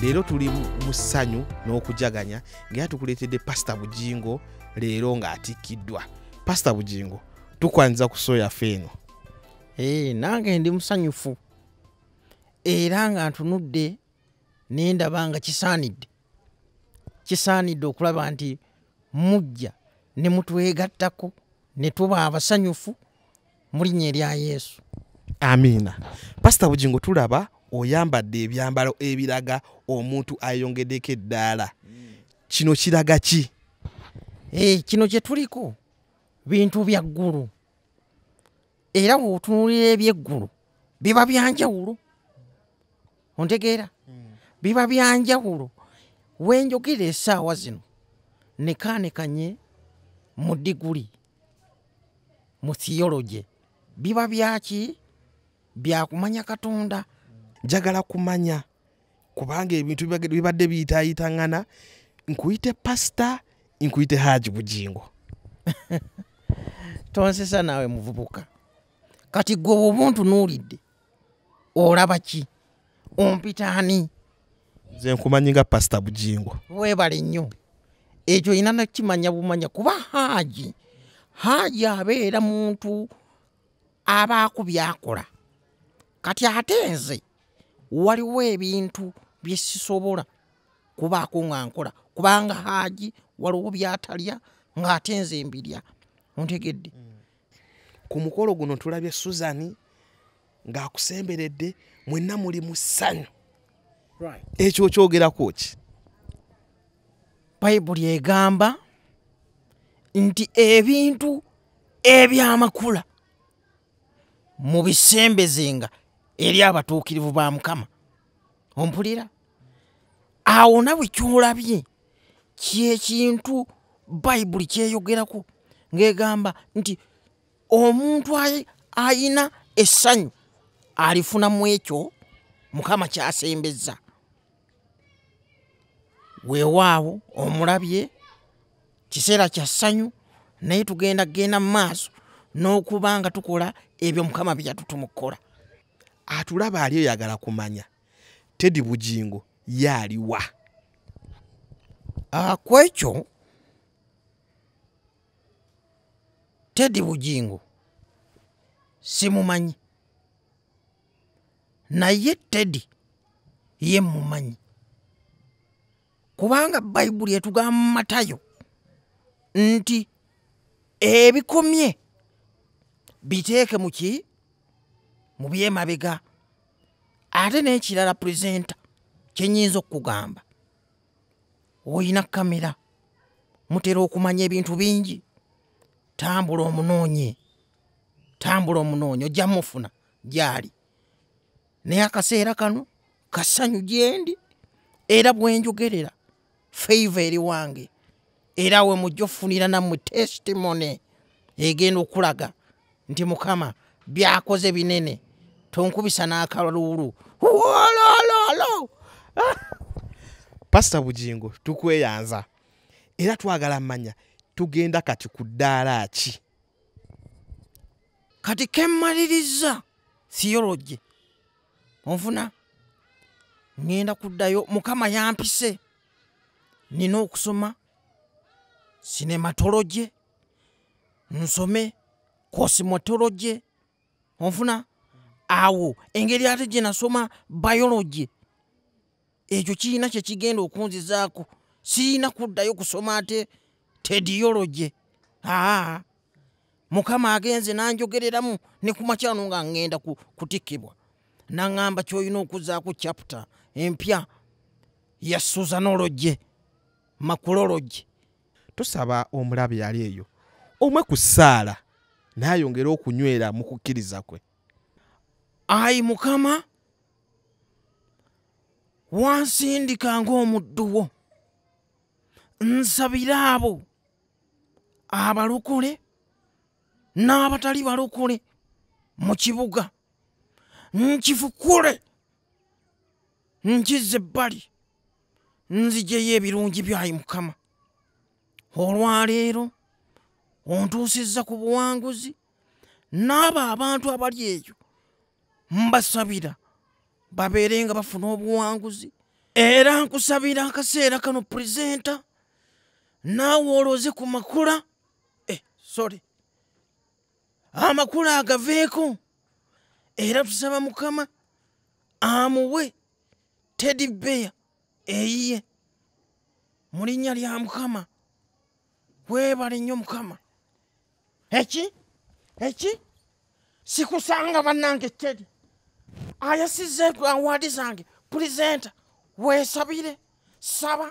leero tuli mu ssanyu n'okujaganya ngaera tukuleetedde pasita bujingo leero ng'atikkiddwa pasita bujingo tukwaniriza ku soo yaffe eno eh, nange ndi musanyufu era nga ntunudde nendaba nga kisaanidde kisaanidde okulaba nti mujja ne mutwegattako ne tuba abasanyufu mu linnya erya yesu amiina pasita bugingo tulaba oyambadde ebyambalo ebiraga omuntu ayongedeko eddaala kino kiraga ki eh, kino kye tuliko bintu bya ggulu era wotunulira ebyeggulu biba byanjawulo ontegeera hmm. biba byanjawulo wenjogera esaawa zino nekaanekanye mu diguli mu theology biba byaki byakumanya katonda njagala kumanya kubanga ebintu bibadde biyitayitaŋana nkuyite pasita nkuyite haji bugingo tonsesa naawe muvubuka kati gwe obuntu nuulidde olaba ki ompita ani nze nkumanyi nga pasita bujingo webale nnyo ekyo olina nakimanya bumanya kuba haaji haaji abeera muntu abaaku byakola kati ate nze waliwo ebintu bye sisobola kubaako nga nkola kubanga haaji waliwo byatalya ng'ate nze mbirya ontegedde mm. ku mukolo guno tulabye suzani ng'akusemberedde mwenna muli mu ssanyu ekyo okyogerako ki bayibuli egamba nti ebintu ebyamakula mubisembezenga eri abatuukirivu ba mukama ompulira awo nawe kyolabye kyekintu bayibuli kyeyogerako ng'egamba nti omuntu ayina essanyu alifuna mu ekyo mukama kyasembezza weewaawo omulabye kiseera kya ssanyu naye tugenda kugenda mu maaso n'okuba nga tukola ebyo mukama bye yatutumukukola atulaba ali oyagala kumanya tedi bugingo ye aliwa ah, ku ekyo tedi bugingo simumanyi naye tedi ye mumanyi kubanga bayibuli etugamba mu matayo nti ebikomye biteeke muki mu byemabega ate n'ekirala purezenta kye nyinza okukugamba olina kamera mutera okumanya ebintu bingi tambula omunoonye tambula omunoonye ojja mufuna gyali naye akaseera kano kasanyu gyendi era bwenjogerera feiva eri wange era we mujja ofunira nammwe testimony egenda okulaga nti mukama byakoze binene tonkubisa n'akaluulu wolololo pasita bugingo tukweyanza era twagala manya tugenda kati ku ddaala ki kati kemmaliriza theology onfuna ŋŋenda kuddayo mukama yampise nina okusoma sinematoloje nsome kosimotoloje onfuna awo engeri ate gye nasoma bioloje ekyo kirina kyekigenda okunzizaako sirina kuddayo kusoma ate tediyology aa mukama agenze nanjogereramu ne ku makyano nga ngenda kutikkibwa naŋŋamba kyolina okuzaako chapita empya ya susanology makulology tusaba omulabe yali eyo omwe ku ssaala naayongere okunywera mu kukkiriza kwe ayi mukama wansindika ng'omuddu wo nsabire abo abalokole n'abatali balokole mu kibuga nkifukule nkize ebbali nzijeyo ebirungi byayi mukama olwaleero ontuusizza ku buwanguzi n'abo abantu abali eyo mbasabira babeere nga bafuna obuwanguzi era nkusabira akaseera kano purezenta naawe olooze ku makula eh, sorry amakula agaveeko era tusaba mukama amuwe tedi beya eyiye mu linnya lya mukama weebale nnyo mukama eki eki sikusanga bannange teri ayasiza awaadi zange pulizenta weesabire saba